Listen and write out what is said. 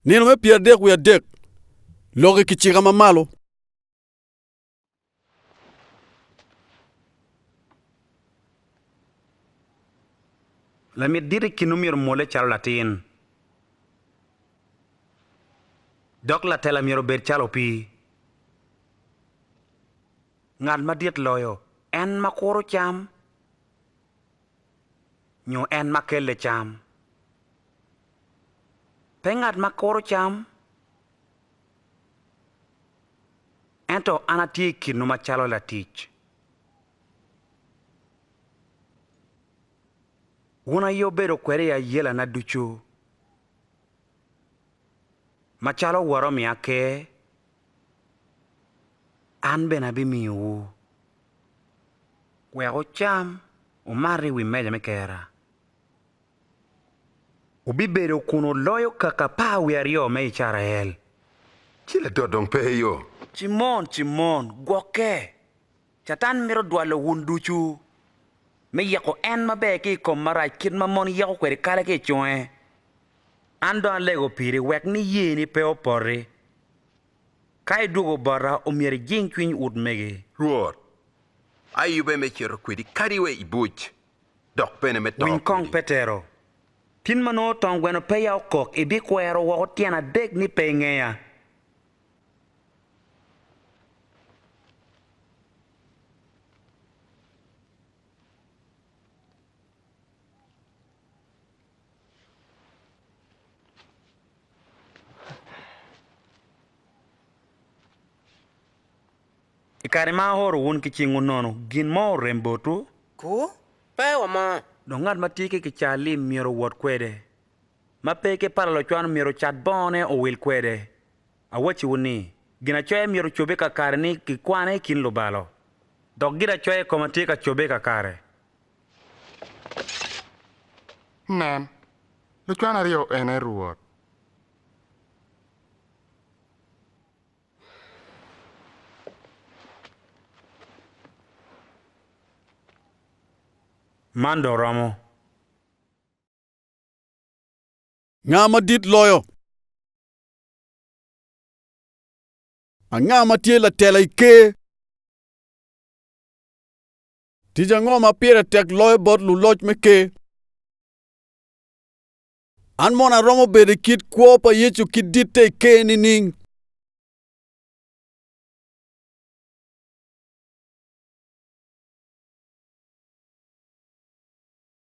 Nino me pyeradek wiye adek, lok i kicika ma malo. Lamit dit i kinwu myero omwolle calo latin, dok latela myero obed calo opii. Ngat madit loyo en ma kuro cam nyo en ma kelle cam. Pe ngat ma kuro cam, ento an atye i kinwu macalo latic. Wun aye wubedo kweda i ayelana ducu, macalo Wora omiya ker an bene abimiyowu wek wucam wumat i wi meja me Kerra. Wubibedo kun wuloyo kaka apar wiye aryo me Icrael. Ci Ladot dong pe i yo. Cimon, Cimon, gwokke! Catan mito dwalo wun ducu me yeko en maber ki i kom marac kit ma mon yeko kwede kale ki i conge. An dong alego piri wek niyeni pe opoti. Ka idwogo bota, omyero ijing cwiny utmegi. Rwot, ayube me cito kwedi kadi wa i buc, dok bene me to Winy kong kwedi. Petero, tin ma nongo tong gweno peya okok ibikwero woko tyen adek ni pe ingeya? I kare ma aoro wun ki cingwu nono, gin mo orem botwu? Ku, Pe wamor. Dok ngat ma tye ki kicaa lim myero owot kwede. Ma pe ki pala locwan myero ocat bongone owil kwede. Awacciwu ni, Ginacoya myero ocobbe kakare ni gikwane i kin lubalo, dok ginacoya i koma tye ka cobbe kakare. Nen, lucwan aryo ene Rwot. Man dong romo. Nga madit loyo? Anga ma tye latela i Ker? Tic ango ma pire tek loyo bot luloc me Ker? An mono aromo bedo i kit kwo pa Yecu ki ditte i Ker nining?